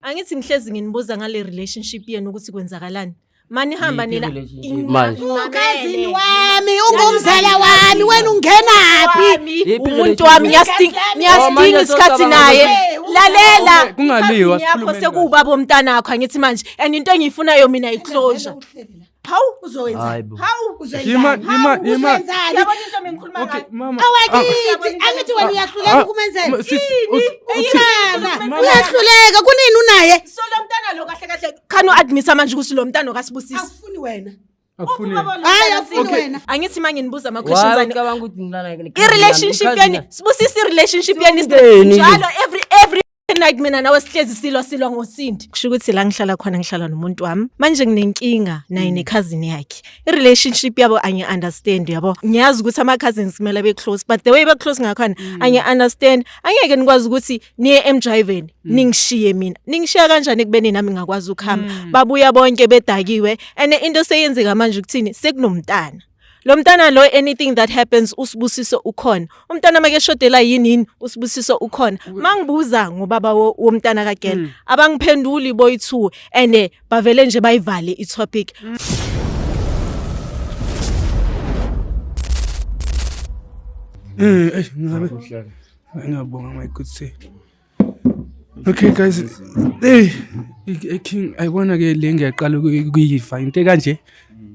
Angithi ngihlezi nginibuza ngale relationship yenu ukuthi kwenzakalani. Mani hamba Yiphi nina. relationship? Ina- Manje. Mamele. Ukazini wami, ungumzala wami, wena ungenaphi? Wami, Yiphi Umuntu relationship? wami ngiyasting- Oh, ngiyastinga manje isikhathi socabanga naye. ukuthi- Lalela. Okay, kungaliwa, Isikhathi yakho sikhulumeni sekuwubaba womntanakho angithi manje and into engiyifunayo mina yiclosure. Uhleli la. Hawu uzowenza. Hawu uzowenza. kunini unaye? So lo mntana lo kahle kahle khani uadmisa manje ukuthi lo mntana okasibusisi. Akufuni wena. angithi manje nibuza ama-questions relationship yani sibusisa i-relationship yani njalo every every night mina nawe sihlezi silwa silwa ngosindi kusho ukuthi la ngihlala khona ngihlala nomuntu wami manje nginenkinga naye mm. nekhazini yakhe i-relationship yabo angi-understand yabo ngiyazi ukuthi ama-cousins kumele be-close but the way be-close ngakhona mm. angi-understand angeke nikwazi ukuthi niye emjiveni mm. ningishiye mina ningishiya kanjani ekubeni nami ngingakwazi ukuhamba babuya bonke bedakiwe and into seyenzeka manje ukuthini sekunomntana lo mntana lo anything that happens usibusiso ukhona umntana make shodela yini yini usibusiso ukhona mangibuza ngobaba womntana kagela mm. abangiphenduli boyithu and eh, bavele nje bayivale i topic mm. Eh, eh, ngiyabonga my good sir. Okay guys, hey iking ayibona ke le ngiyaqala ukuyifa into kanje.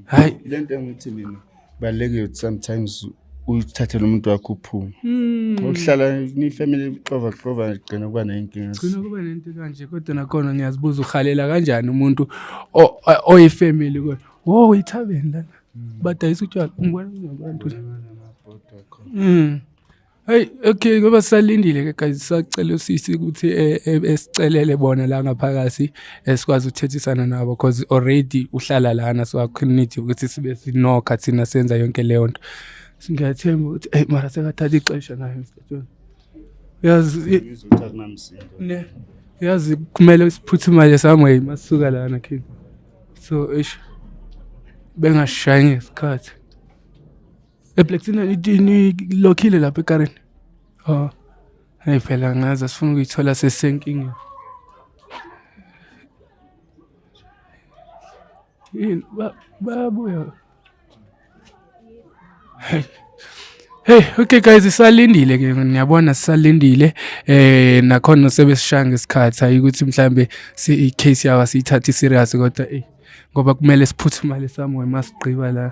Hayi lento engithi mina balekile sometimes uyithathele umuntu wakho uphume hmm. ukuhlala nifamily ixova xova igcina kuba nenkinga gcina kuba nento kanje kodwa nakhona ngiyazibuza uhalela kanjani umuntu oyifamily kodwa wo uyithabeni lana hmm. badayisa utshwala ngibona abantu Hey okay ngoba salindile ke guys sacela usisi ukuthi eh, eh, esicelele bona la ngaphakathi esikwazi ukuthethisana nabo because already uhlala lana so akunidi ukuthi sibe sinokha thina senza yonke leyo nto. Ngiyathemba ukuthi hey mara sekathatha ixesha nayo mfethu. Yazi ngizothatha namsindo. Ne. Yazi kumele siphuthumale somewhere masuka lana kini. So ish bengashayi ngesikhathi. eblacktina nilokhile lapha ekarini o oh. hayi phela ngazi asifuna ukuyithola sesenkingeni yini bayabuya hey Hey okay guys sisalindile ke ngiyabona sisalindile eh nakhona sebesishaya ngesikhathi hayi ukuthi mhlambe si case yawa siyithathe serious kodwa eh ngoba kumele siphuthumale somewhere masigqiba la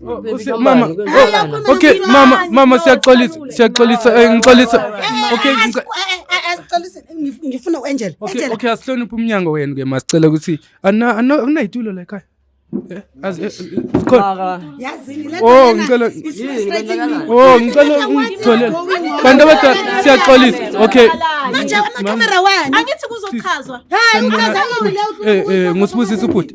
Oh, mama oh, okay mama mama siyaxolisa siyaxolisa eh, ngixolisa eh, okay eh, ngifuna uangel okay okay asihloniphe umnyango wenu ke masicela ukuthi anayitulo la ekhaya Oh ngicela Oh ngicela ungitholele bantu abadala siyaxolisa okay manje ama camera wani angithi kuzochazwa hayi uchaza ngule ngusibusisa ubhuti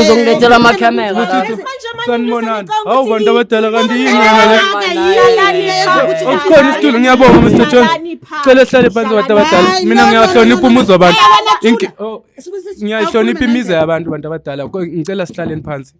uzongilethela amacameraasanibonani hawu bantu abadala kanti yiniukhona isitulo ngiyabonga mr jones cela ehlale phansi bantu abadala mina ngiyahlonipha umuzi wabantu ngiyayihlonipha imizi yabantu bantu abadala ngicela sihlaleni phansi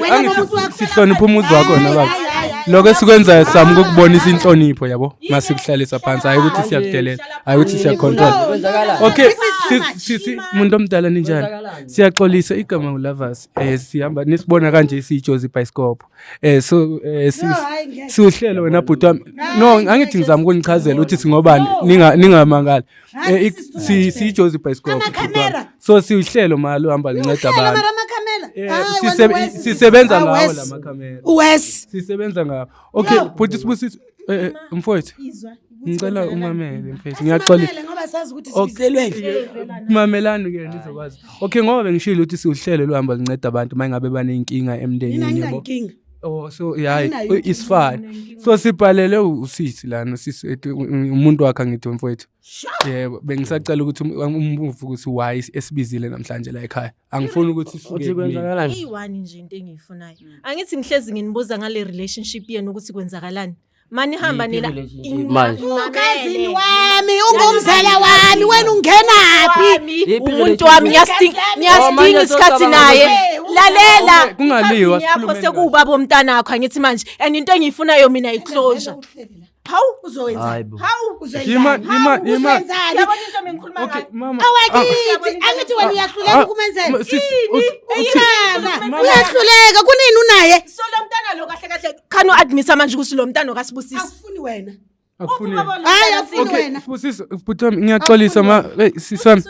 Wena Angithi nomuntu wakho sihlonipha umuzi wakho wena baba Hayi, hayi, hayi. lokho esikwenzayo sami ukukubonisa inhlonipho yabo masikuhlalisa phansi hayi ukuthi siyakudelela hayi ukuthi siyacontrol Kwenzakalani? okay This is too si- much. si- si- muntu omdala ninjani Kwenzakalani? siyaxolisa igama ngulavas um sihamba nisibona kanje siyijozi ibhayisikobho um so um si- No, hayi, ngeke. siwuhlelo wena bhuti wami no angithi ngizama ukunichazela ukuthi singobani ninga- ningamangali Eh, ik- si- siyijozi ibhayisikobho Amakhamera. so siwuhlelo mali uhamba linceda abantu mara amakhamera Eh, Hayi, wena sisebe- uwesi, sisebenza hayi, ngawo wesi. la makhamera uwesi sisebenza ngawo okay Yo. bhuti sibusiso eh, eh, mfowethu Izwa, ukuthi ngicela kwenzakalani. umamele mfethu ngiyaxolisa Asimamele ngoba sazi ukuthi Okay. sibizelweni mamelani ke ndizokwazi okay ngoba bengishilo ukuthi siwuhlelo luhamba linceda abantu uma ngabe baneyinkinga mina emndenini yabo nginankinga Oh so yeah Ayinayo it's inkinga fine. mina, inkinga. So sibhalele u- usisi lana sisi ethi u- u- umuntu wakhe angithi mfowethu. Yebo bengisacela ukuthi um- umbuvu ukuthi why esibizile namhlanje la ekhaya. Angifuni ukuthi isuke uthi kumina. kwenzakalani iyi-one nje into engiyifunayo angithi ngihlezi nginibuza ngale relationship yenu ukuthi kwenzakalani manihamba nina ukazini wami ungumzala wami wena ungenaphi umuntu wami ngiyastinga isikhathi naye lalela kungaliwa yakho sekuwubaba omntana wakho angithi manje and into engiyifunayo mina iclosure hawu uzowenza hawu uzenzani okay mama awakithi ah. angithi wena uyahluleka ah. ukumenzela ah. yini uyahluleka kunini unaye solo mntana lo kahle kahle khani u-admisa manje ukuthi lo mntana okasibusisi akufuni wena akufuni hayi afuni okay wena sibusisi bhuti wami ngiyaxolisa ma hey, sisi wami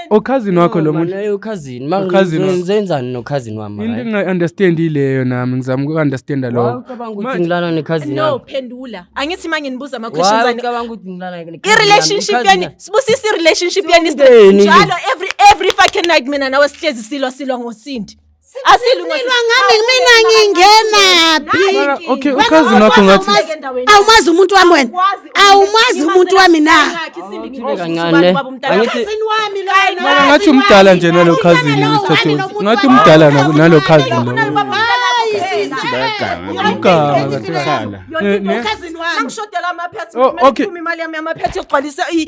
okhazini wakho lo muntu Manje ukhazini ma Ukhazini wakho. ngenzenzani nokhazini wami into right? engingayi-understand ileyo nami ngizama uku-understanda Why lokho ucabanga ukuthi ngilala nekhazini no wami phendula angithi manje nibuza Why ama-questions ani ucabanga ukuthi ngilala nekhazini wami? i-relationship Ukhazini- yeni sibusisa i-relationship yeni Siwumndeni. njalo every every fucking night mina nawe sihlezi silwa silwa ngosindi asilunga Silwa ngami mina ngingenaphi okay uchazi nakho ngathi awumazi umuntu wami wena awumazi umuntu wami na kancane angithi Mara ngathi umdala nje nalo cousin usithathe ngathi umdala nalo- nalo cousin lo Uganga kahle. Eh, ne? Oh, okay. imali yami yamaphetha yokugcwalisa i-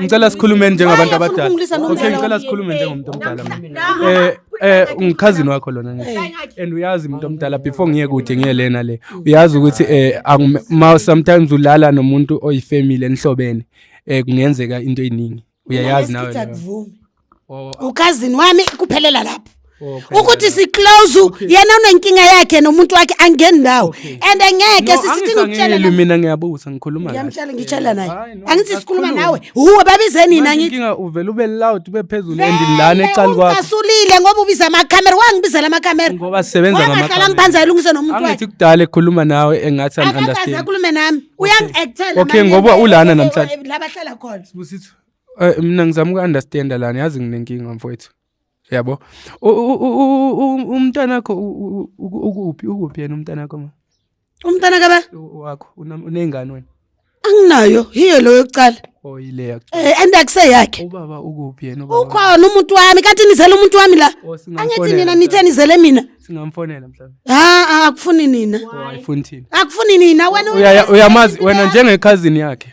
ngicela sikhulume njengabantu abadala okay ngicela sikhulume njengomuntu omdala eh eh ungichazini wakho lona and uyazi umuntu omdala before ngiye kude ngiye lena le uyazi ukuthi eh ma sometimes ulala nomuntu oyifamily enihlobene eh kungenzeka into eziningi uyayazi nawe ukazini wami kuphelela lapho ukuthi siclose yena unenkinga yakhe nomuntu wakhe angeni ndawo and ngeke sisithi ngikutshela mina ngiyabuza ngikhuluma naye ngiyamtshela ngitshela naye angithi sikhuluma nawe huwe babizeni nina ngithi inkinga uvela ube loud ube phezulu endilana ecali kwakho kasulile ngoba ubiza ama camera wangibizela ama camera ngoba sisebenza ngama camera ngakhala ngiphanza ilungise nomuntu wakhe angithi kudala ekhuluma nawe engathi an understand akakhulume nami uyangi actela okay ngoba ulana namhlanje labahlala khona sibusithu Eh, mina ngizama uku-understanda lana yazi nginenkinga mfowethu yabo umntana wakho ukuphi ukuphi yena umntana wakho ma umntana kaba wakho unengane wena anginayo hiyo loyo kucala oyileya oh, um eh, andakuse yakhe ubaba ukuphi yena ukhona umuntu wami kanti nizele umuntu wami la oh, angithi nina nithe nizele mina singamfonela mhlawumbe ha akufuni nina oh, akufuni nina wena uyamazi wena njengekhazini yakhe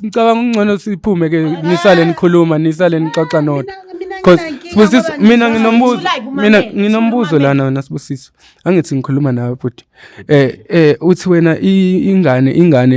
ngicabanga ungcono siphume ke nisale nikhuluma nisale nixoxa nodwa cause sibusiso mina nginombuzo mina nginombuzo lana wena sibusiso angithi ngikhuluma nawe bhuti eh eh uthi wena ingane ingane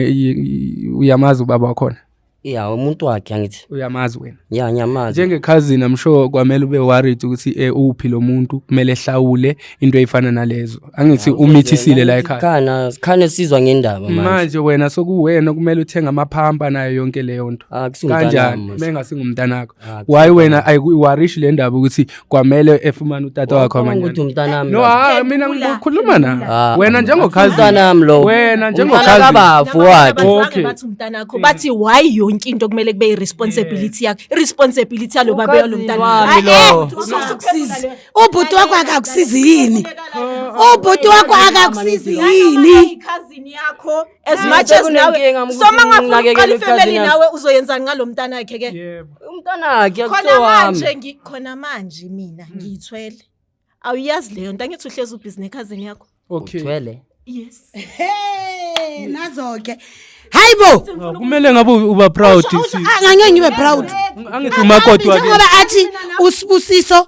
uyamazi ubaba wakhona ya umuntu wakhe angithi uyamazi wena ya ngiyamazi njengekhazini i'm sure kwamele ube worried ukuthi eh uphi lo muntu kumele ehlawule into eyifana nalezo angithi umithisile la ekhaya khana khane sizwa ngendaba manje manje wena sokuwena kumele uthenge amaphampa nayo yonke leyo nto ah, kanjani mengasingumntanakho ah, why wena ayiwarishi le ndaba ukuthi kwamele efumane utata wakho amanyana ukuthi umntanami no ah mina Phendula, ngikhuluma na phendula. wena njengokhazini umntanami lo wena umntana njengokhazini kabafo wakhe Okay. okay. bathi umntanakho bathi why yonke into kumele kube i-responsibility yakho i-responsibility yalo baba yalo Ukazi mntana wami Ayi, lo. eh, usukusizi. ubhuti wakho akakusizi yini ubhuti wakho akakusizi yini ikhazini yakho as much as nawe sekunenkinga, mkhulu, soma ngafuna nginakekela uqala ifamily ikhazini yami. nawe uzoyenzani ngalomntana wakhe ke yebo umntanakhe khona akusiwo wami manje ngi- khona manje mina Hmm. ngiyithwele awuyazi leyo nto angithi uhlezi ubhizi nekhazini yakho okay uthwele yes Hey, nazo-ke hayi bo Ah, kumele ngabe u- uba proud Awusho- awusho- sisi. ah, ngangeke ngibe proud angithi umakoti wakini njengoba athi usibusiso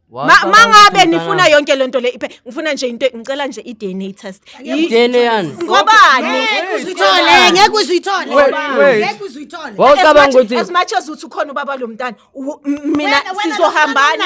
mangabe nifuna yonke lento le iphe ngifuna nje into ngicela nje i-DNA test DNA yani ngobani ngeke uzithole ngeke uzithole ngeke uzithole wawucabanga ukuthi as much as uthi ukhona ubaba lo mntana mina sizohambana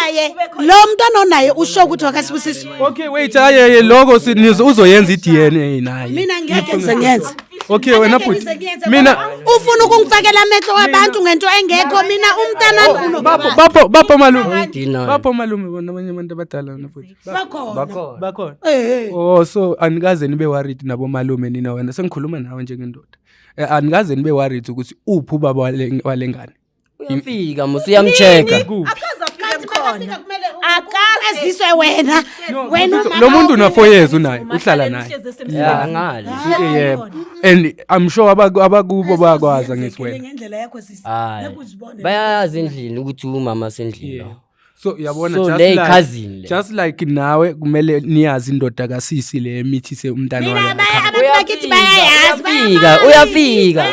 lo mntana onaye usho ukuthi wakasibusisi okay wait ayeye lokho uzoyenza i-DNA naye mina ngeke ngizengenze Okay wena bhuti. Mina ufuna ukungifakela amehlo wabantu ngento engekho mina umntana oh, bapho bapho bapho malume. Bapho malume bona abanye abantu abadala wena bhuti. Bakhona. Bakhona. Bakhona. Eh, eh. Oh so anikaze nibe worried nabo malume nina wena sengikhuluma nawe njengendoda. Eh, anikaze nibe worried ukuthi uphi ubaba walengane. uyafika musa uyamcheck akaze afike Kanti mkhona makafika kumele u- akaze eziswe wena wena So, lo muntu unafoyezi unaye uhlala naye ya ngale Eh, yebo and i'm sure abaku- abakubo bayakwazi angithi wena ngendlela yakho sisi hayi nekuzibonela bayazi endlini ukuthi umama sendlini Yeah. lo so yabona so, just, like, cousin le. just like nawe kumele niyazi indoda kasisi le emithise umntana wayouyafika uyafika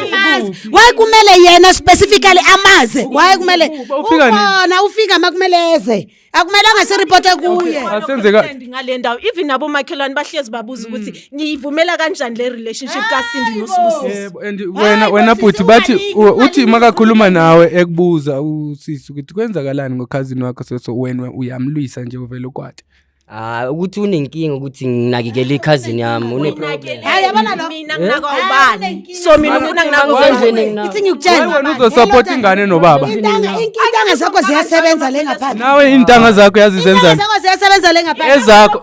waye kumele yena specifically amaze waye kumele ukhona ufika makumele eze akumelanga siripote kuye asenzeka ngale ndawo even abomakhelwane bahlezi babuza ukuthi niyivumela kanjani le relationship kaSindi noSibusiso yebo and wena wena bhuti bathi uthi makakhuluma nawe ekubuza usisi ukuthi kwenzakalani ngokhazini wakho so so wena uyamlwisa nje uvela ukwati Ah ukuthi unenkinga ukuthi nginakekele ikhazini yami une problem. Hayi yabona lo mina nginaka ubani. So mina ufuna nginaka ubani. Ithi ngikutshela. Wena uzo support ingane nobaba. Intanga intanga zakho ziyasebenza le ngaphandle. Nawe intanga zakho yazizenza. Intanga zakho ziyasebenza le ngaphandle. Ezakho.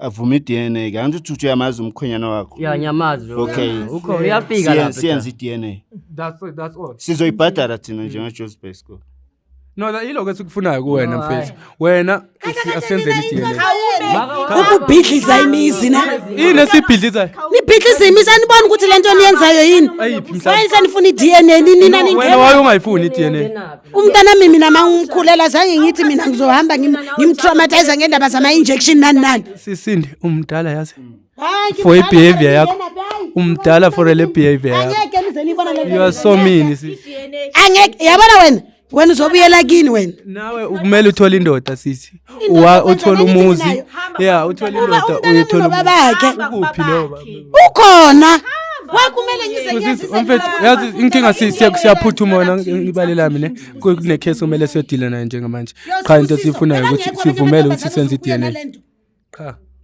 avume i-dna ke angithi uthi uyamazi umkhwenyana wakho ya ngiyamazi lo Okay. mfana. ukhona uyafika Siye- lapha siyenze i-dna that's that's all sizoyibhadala thina njengejozi basco no that- yiloko esikufunayo kuwena No, mfethu wena usi- asenzeni i-DNA. ukubhidliza imizi na yini esibhidlizayo nibhidliza imizi aniboni ukuthi le nto niyenzayo yini Ayiphi mhlawumbe? wayini sanifuna i-dna nini nina wena ningena waye ungayifuni i-dna Ngenaphi? umntanami mina ma ngimkhulela zange ngithi mina ngizohamba ngimtraumatize ngendaba zama-injection nani nani sisinde umdala yazi for ibehavior yakho umdala for le behavior yakho you are so mean angeke yabona wena wena uzobuyela kini wena nawe ukumele uthole indoda sisi Wa- uthole umuzi ya uthole indoda uyithola babakhe ukuphi lo baba? ukhona wakumele ngize Kusisi, ngiyazise umfethu mina yazi baba, inkinga ngicela si- siya- indlela siyaphuthuma wena engicela ngibalela mina ngicela Ku- kunekhesi kumele siyodila nayo njengamanje Yoze qha into usisi, siyifunayo phela ukuthi ngekho abanye sivumele abantu ukuthi senze abazokufika i-dna nalento. qha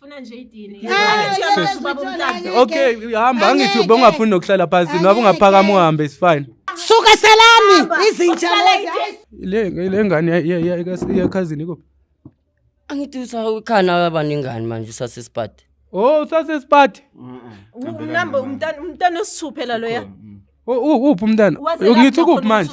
Funa nje idini. Okay, hamba angithi ubongafuni nokuhlala phansi noma ungaphakama uhambe is fine. Suka salami izinja lezi. Le le ngane yakhazini kuphi? Angithi usakhana abaningani manje usase sipati. Oh usase sipati. Unamba umntana umntana osithuphela loya. Uphi umntana? Ngithi kuphi manje?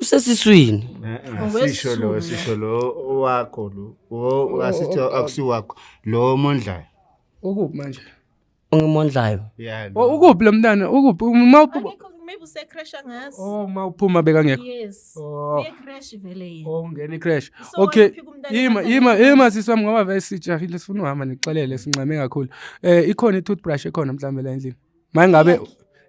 usesiswini sisho lo sisho lo wakho lo wo asithi akusiwakho lo mondlayo ukuphi manje ungimondlayo yeah lo. ukuphi lo mntana ukuphi uma uphuma Akekho maybe usecrasha ngazi. oh uma uphuma bekangekho Yes. oh Ye crash vele yena. oh ngena icrash So okay waphika umntana yima kancane yima kancane. yima sisi wami ngoba vele sijahile sifuna uhamba nixelele sinxame kakhulu eh ikhona i-toothbrush ekhona mhlawumbe la endlini mangabe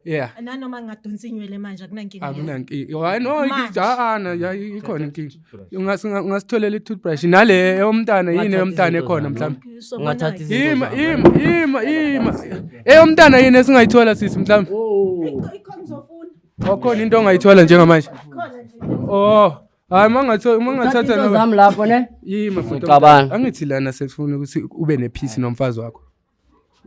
yeah nanoma ngingadonsa inywele manje akunankinga akunankinga hayi no ikhona ikhona inkinga ungasitholela i-toothbrush nale eyomntana yini eyomntana ekhona mhlawumbe ungathatha izinto ima ima ima eyomntana yini esingayithola sisi mhlawumbe okhona into ongayithola njengamanje oh hayi mangathatha zami lapho ne yima futhi angithi lana sefuna ukuthi ube nephisi nomfazi wakho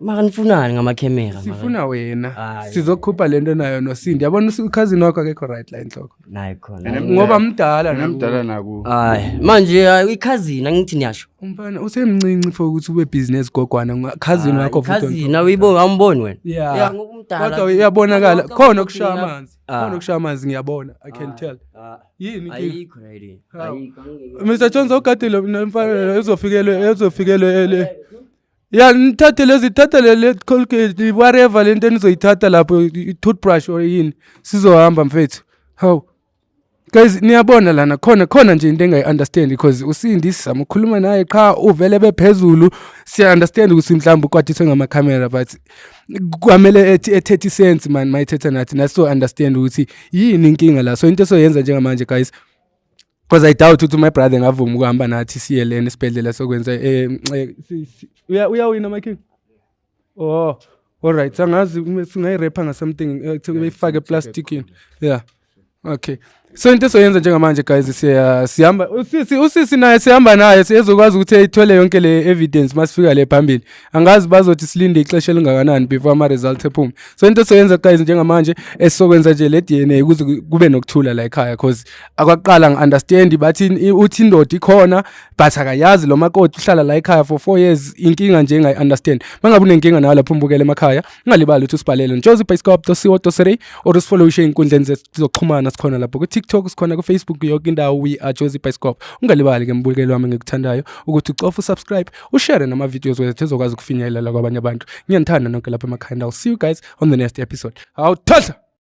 maka nifunani ngamakhemera maka? sifuna wena Hayi. sizokhupha lento nayo nosindi yabona ukhazini wakho akekho right la enhloko nayi khona Ene- ngoba mdala Mina naku- mdala naku hayi manje hayi, ikhazini angithi niyasho umfana usemncinci for ukuthi ube business gogwana nga- khazini Hayi, wakho futhi ikhazini awuyiboni awumboni wena Yeah. Yeah, ngoba umdala. kodwa uyabonakala Kodwa khona ukushaya ukhuluma- amanzi Ah. khona ukushaya amanzi ngiyabona i can tell Ah, yini inkinga? ayikho nayo le. Hawu. Ayikho, angeke. mr jones ogadile nomfana uzofikelwe uzofikelwe ele ya nithathe lezi thatha le le colgate whatever lento enizoyithatha lapho i- toothbrush or yini sizohamba mfethu hawu guys niyabona lana khona khona nje into engayi-understand because usindi sizama ukukhuluma naye qha uvele bephezulu siya-understand ukuthi mhlawumbe ukwathiswe ngamakhamera but kwamele ethi- ethethe isense mani mayithetha nathi naso-understand ukuthi yini inkinga la so into esoyenza njengamanje guys because i doubt ukuthi my brother ngavuma ukuhamba nathi siye lena esibhedlela sokwenza eh, eh, uya uyawina my king oh all right angazi singayirepha ngasomething eh, kuyifake eplasticini yeah okay so into esoyenza njengamanje guys siya sihamba usisi usisi naye sihamba naye siyezokwazi ukuthi ithole yonke le evidence masifika le phambili angazi bazothi silinde ixesha elingakanani before ama-results ephume so into esoyenza guys njengamanje esizokwenza nje le d n a ukuze kube nokuthula la ekhaya cause akwaqala ngi-understand bathi uthi indoda ikhona but akayazi lo makoti uhlala la ekhaya for four years inkinga nje engayi-understand uma ngabe unenkinga nayo lapho umbukela emakhaya ungalibali ukuthi usibhalele njoze ubhayisikop co co or usifollow ushe ey'nkundleni zokuxhumana sikhona lapho ku-tiktok sikhona ku-facebook yoke indawo we are jozi bhayisikop ungalibali-ke mbukeli wami ngikuthandayo ukuthi ucofa usubscribe ushare nama-videos wethu ezokwazi ukufinyelela kwabanye abantu ngiyanithanda nonke lapha emakhanda i'll see you guys on the next episode awuthatha